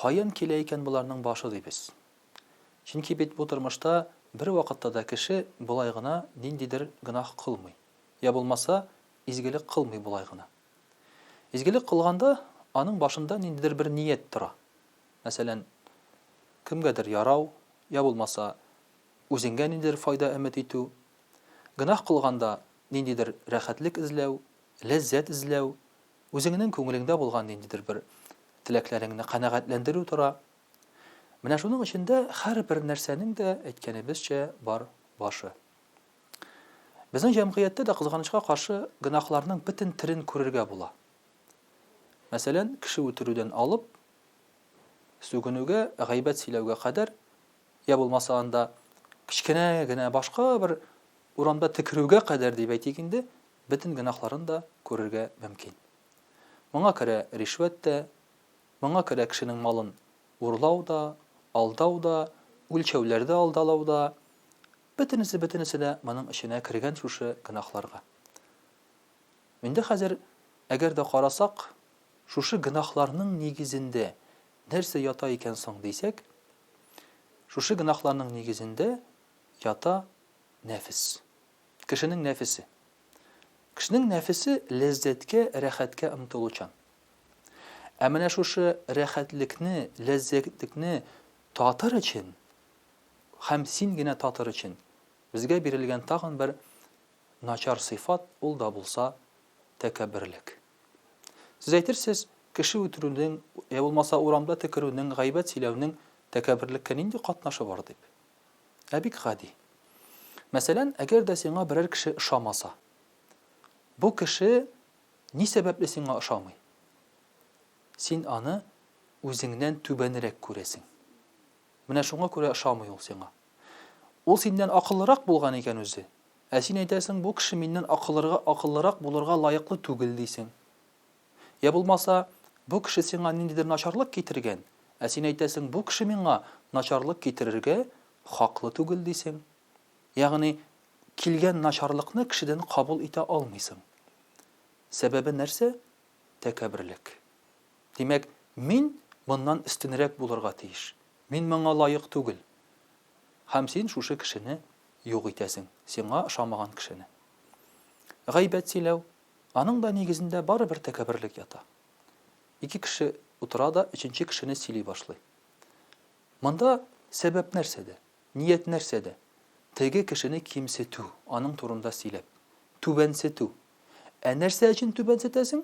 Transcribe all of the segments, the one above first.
Каян килә икән боларның башы дибез. Чөнки бит бу тормышта бервакытта да кеше болай гына ниндидер гөнаһ кылмый, я булмаса, изгелек кылмый болай гына. Изгелек кылганда, аның башында ниндидер бер ният тора. Мәсәлән, кемгәдер ярау, я булмаса, үзеңгә ниндидер файда өмет итү. Гөнаһ кылганда, ниндидер рәхәтлек эзләү, ләззәт эзләү, Үзеңнең күңелеңдә булган ниндидер бер теләкләреңне канәгатьләндерү тора. Менә шуның эчендә һәрбер нәрсәнең дә, әйткәнебезчә, бар башы. Безнең җәмгыятьтә дә, кызганычка каршы, гөнаһларның бөтен төрен күрергә була. Мәсәлән, кеше үтерүдән алып, сүгенүгә, гайбәт сөйләүгә кадәр, я булмаса анда кечкенә генә башка бер урамда текерүгә кадәр дип әйтик инде, бөтен гөнаһларын да күрергә мөмкин. Моңа керә ришвәт тә, моңа керә кешенең малын урлау да, алдау да, үлчәүләрдә алдалау да, бөтенесе-бөтенесе дә моның эченә кергән шушы гөнаһларга. Инде хәзер, әгәр дә карасак, шушы гөнаһларның нигезендә нәрсә ята икән соң дисәк, шушы гөнаһларның нигезендә ята нәфес. Кешенең нәфесе. Кешенең нәфесе ләззәткә, рәхәткә омтылучан. Ә менә шушы рәхәтлекне, ләззәтлекне татыр өчен һәм син генә татыр өчен безгә бирелгән тагын бер начар сыйфат, ул да булса тәкәбберлек. Сез әйтерсез, кеше үтерүнең, йә булмаса урамда текерүнең, гайбәт сөйләүнең тәкәбберлеккә нинди катнашы бар дип. Ә бик гади. Мәсәлән, әгәр дә сиңа берәр кеше ошамаса, бу кеше ни сәбәпле сиңа ошамый? Син аны үзеңнән түбәнрәк күрәсең. Менә шуңа күрә ошамый ул сиңа. Ул синнән акыллырак булган икән үзе, ә син әйтәсең, бу кеше миннән акыллырак булырга лаеклы түгел, дисең. Йә булмаса, бу кеше сиңа ниндидер начарлык китергән, ә син әйтәсең, бу кеше миңа начарлык китерергә хаклы түгел, дисең. Ягъни, килгән начарлыкны кешедән кабул итә алмыйсың. Сәбәбе нәрсә? Тәкәбберлек. Димәк, мин моннан өстенрәк булырга тиеш, мин моңа лаек түгел. Һәм син шушы кешене юк итәсең, сиңа ошамаган кешене. Гайбәт сөйләү, Аның да нигезендә барыбер тәкәбберлек ята. Ике кеше утыра да өченче кешене сөйли башлый. Монда сәбәп нәрсәдә, ният нәрсәдә? Теге кешене кимсетү, аның турында сөйләп. Түбәнсетү. Ә нәрсә өчен түбәнсетәсең?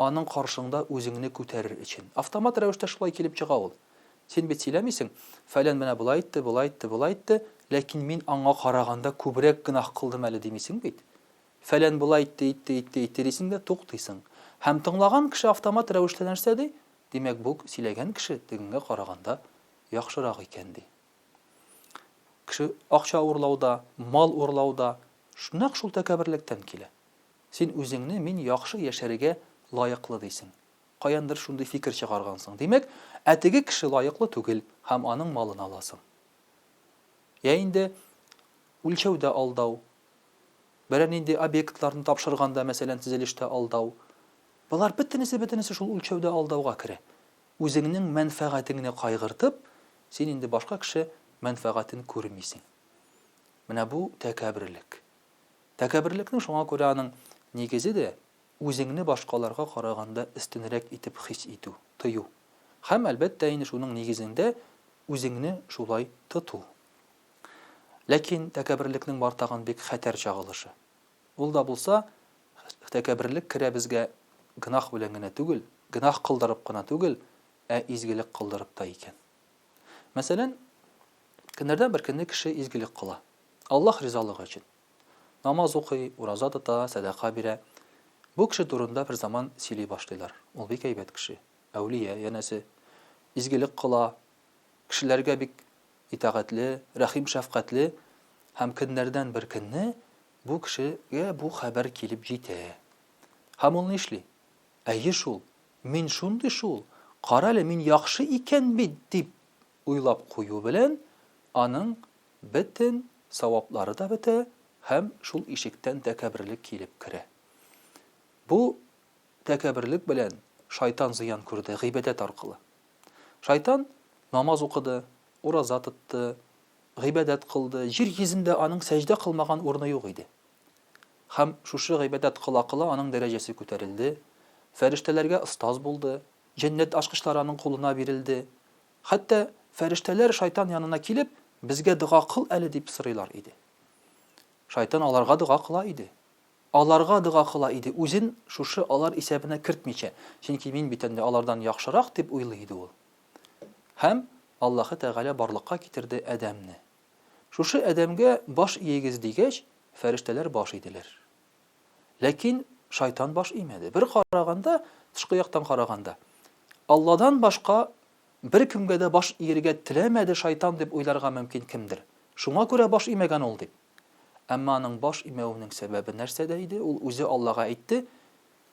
Аның каршыңда үзеңне күтәрер өчен. Автомат рәвештә шулай килеп чыга ул. Син бит сөйләмисең, фәлән менә болай итте, болай итте, болай итте, ләкин мин аңа караганда күбрәк гөнаһ кылдым әле димисең бит. Фәлән болай итте, итте, итте, итте дисең дә туктыйсың. Һәм тыңлаган кеше автомат рәвештә нәрсә ди? Димәк, бу сөйләгән кеше тегеңә караганда яхшырак икән ди. Кеше акча урлау да, мал урлау да нәкъ шул тәкәбберлектән килә. Син үзеңне мин яхшы яшәргә лаеклы дисең. Каяндыр шундый фикер чыгаргансың. Димәк, ә теге кеше лаеклы түгел һәм аның малын аласың. Йә инде үлчәүдә алдау, берәр нинди объектларны тапшырганда, мәсәлән, төзелештә алдау, болар бөтенесе-бөтенесе шул үлчәүдә алдауга керә. Үзеңнең мәнфәгатеңне кайгыртып, син инде башка кеше мәнфәгатен күрмисең. Менә бу, тәкәбберлек. Тәкәбберлекнең шуңа күрә аның нигезе дә, үзеңне башкаларга караганда өстенрәк итеп хис итү, тою. Һәм, әлбәттә инде, шуның нигезендә үзеңне шулай тоту. Ләкин тәкәберлекнең бар тагын бик хәтәр чагылышы. Ул да булса, тәкәберлек керә безгә гөнаһ белән генә түгел, гөнаһ кылдырып кына түгел, ә изгелек кылдырып та икән. Мәсәлән, көннәрдән бер көнне кеше изгелек кыла. Аллаһ ризалыгы өчен. Намаз укый, ураза тота, сәдака бирә. Бу кеше турында бер заман сөйли башлыйлар. Ул бик әйбәт кеше, әүлия, янәсе, изгелек кыла, кешеләргә бик итагатьле, рәхим-шәфкатьле һәм көннәрдән бер көнне бу кешегә бу хәбәр килеп җитә. Һәм ул нишли? Әйе шул, мин шундый шул, карале, мин яхшы икән бит, дип уйлап кую белән, аның бөтен саваплары да бетә һәм шул ишектән тәкәбберлек килеп керә. Бу тәкәбберлек белән шайтан зыян күрде гыйбадәт аркылы. Шайтан намаз укыды, ураза тотты, гыйбадәт кылды, җир йөзендә аның сәҗдә кылмаган урыны юк иде. Һәм шушы гыйбадәт кыла-кыла аның дәрәҗәсе күтәрелде, фәрештәләргә остаз булды, җәннәт ачкычлары аның кулына бирелде. Хәтта фәрештәләр Шайтан янына килеп, Безгә дога кыл әле, дип сорыйлар иде. Шайтан аларга дога кыла иде. Аларга дога кыла иде, үзен шушы алар исәбенә кертмичә, чөнки мин бит әле алардан яхшырак, дип уйлый иде ул. Һәм Аллаһы Тәгалә барлыкка китерде Адәмне. Шушы Адәмгә баш иегез дигәч, фәрештәләр баш иделәр. Ләкин шайтан баш имәде. Бер караганда, тышкы яктан караганда, Алладан башка беркемгә дә баш иергә теләмәде шайтан дип уйларга мөмкин кемдер. Шуңа күрә баш имәгән ул, дип. Әмма аның баш имәвенең сәбәбе нәрсәдә иде? Ул үзе Аллага әйтте,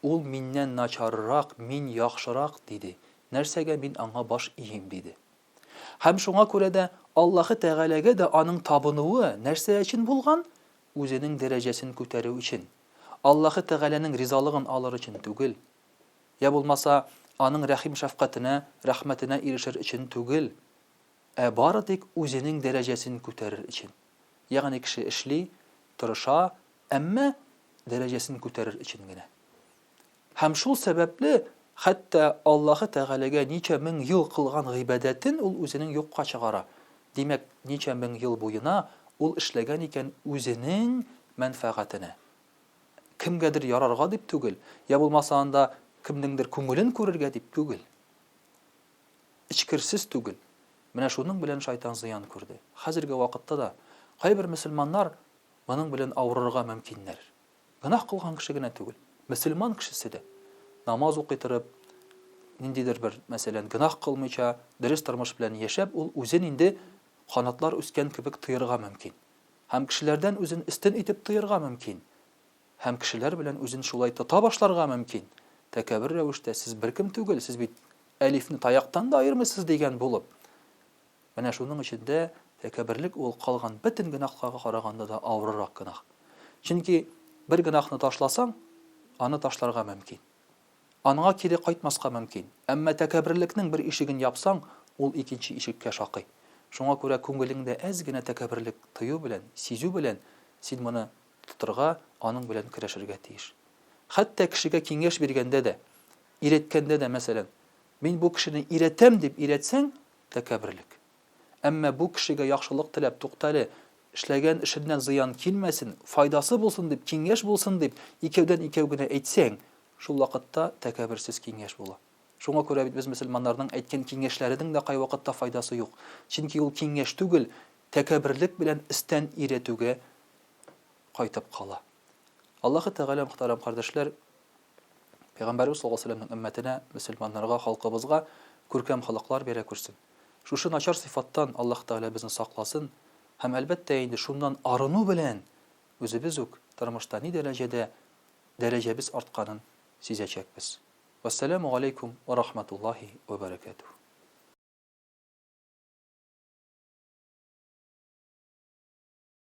Ул миннән начаррак, мин яхшырак, диде. Нәрсәгә мин аңа баш иим? диде. Һәм шуңа күрә дә Аллаһы Тәгаләгә дә аның табынуы нәрсә өчен булган? Үзенең дәрәҗәсен күтәрү өчен. Аллаһы Тәгаләнең ризалыгын алыр өчен түгел. Йә булмаса, Аның рәхим-шәфкатенә, рәхмәтенә ирешер өчен түгел. Ә бары тик үзенең дәрәҗәсен күтәрер өчен. Ягъни кеше эшли, тырыша, әмма дәрәҗәсен күтәрер өчен генә. Һәм шул сәбәпле хәтта Аллаһы Тәгаләгә ничә мең ел кылган гыйбадәтен ул үзенең юкка чыгара. Димәк, ничә мең ел буена ул эшләгән икән үзенең мәнфәгатенә. Кемгәдер ярарга дип түгел, йә булмаса анда кемнеңдер күңелен күрергә дип түгел. эчкерсез түгел. Менә шуның белән шайтан зыян күрде. Хәзерге вакытта да кайбер мөселманнар моның белән авырырга мөмкиннәр. Гөнаһ кылган кеше генә түгел, мөселман кешесе дә, намаз укый торып, ниндидер бер, мәсәлән, гөнаһ кылмыйча, дөрес тормыш белән яшәп, ул үзен инде канатлар үскән кебек тоерга мөмкин. Һәм кешеләрдән үзен өстен итеп тоерга мөмкин. Һәм кешеләр белән үзен шулай тота башларга мөмкин, тәкәбер рәвештә, сез беркем түгел, сез бит Әлифне таяктан да аермыйсыз дигән булып. Менә шуның өчен дә тәкәберлек ул калган бөтен гөнаһларга караганда да авырырак гөнаһ. Чөнки бер гөнаһны ташласаң, аны ташларга мөмкин. Анга кире кайтмаска мөмкин. Әмма тәкәберлекнең бер ишеген япсаң, ул икенче ишеккә шакый. Шуңа күрә күңелеңдә әз генә тәкәберлек тою белән, сизү белән син моны тотарга, аның белән көрәшергә тиеш. Хәтта кешегә киңәш биргәндә дә, өйрәткәндә дә, мәсәлән, Мин бу кешене өйрәтәм, дип өйрәтсәң, тәкәбберлек. Әмма бу кешегә яхшылык теләп, туктале, эшләгән эшеннән зыян килмәсен, файдасы булсын дип, киңәш булсын дип, икәүдән икәү генә әйтсәң, шул вакытта тәкәбберсез киңәш була. Шуңа күрә бит без мөселманнарның әйткән киңәшләренең дә кайвакытта файдасы юк, чөнки ул киңәш түгел, тәкәбберлек белән өстән өйрәтүгә кайтып кала. Аллаһы Тәгалә, мөхтәрәм кардәшләр, Пәйгамбәребез саллаллаһу галәйһи ва сәлләмнең өммәтенә, мөселманнарга, халкыбызга күркәм холыклар бирә күрсен. Шушы начар сыйфаттан Аллаһы Тәгалә безне сакласын һәм, әлбәттә инде, шуннан арыну белән үзебез үк тормышта ни дәрәҗәдә дәрәҗәбез артканын сизәчәкбез. Вәссәламү галәйкүм ва рахматуллаһи ва бәрәкәтүһ.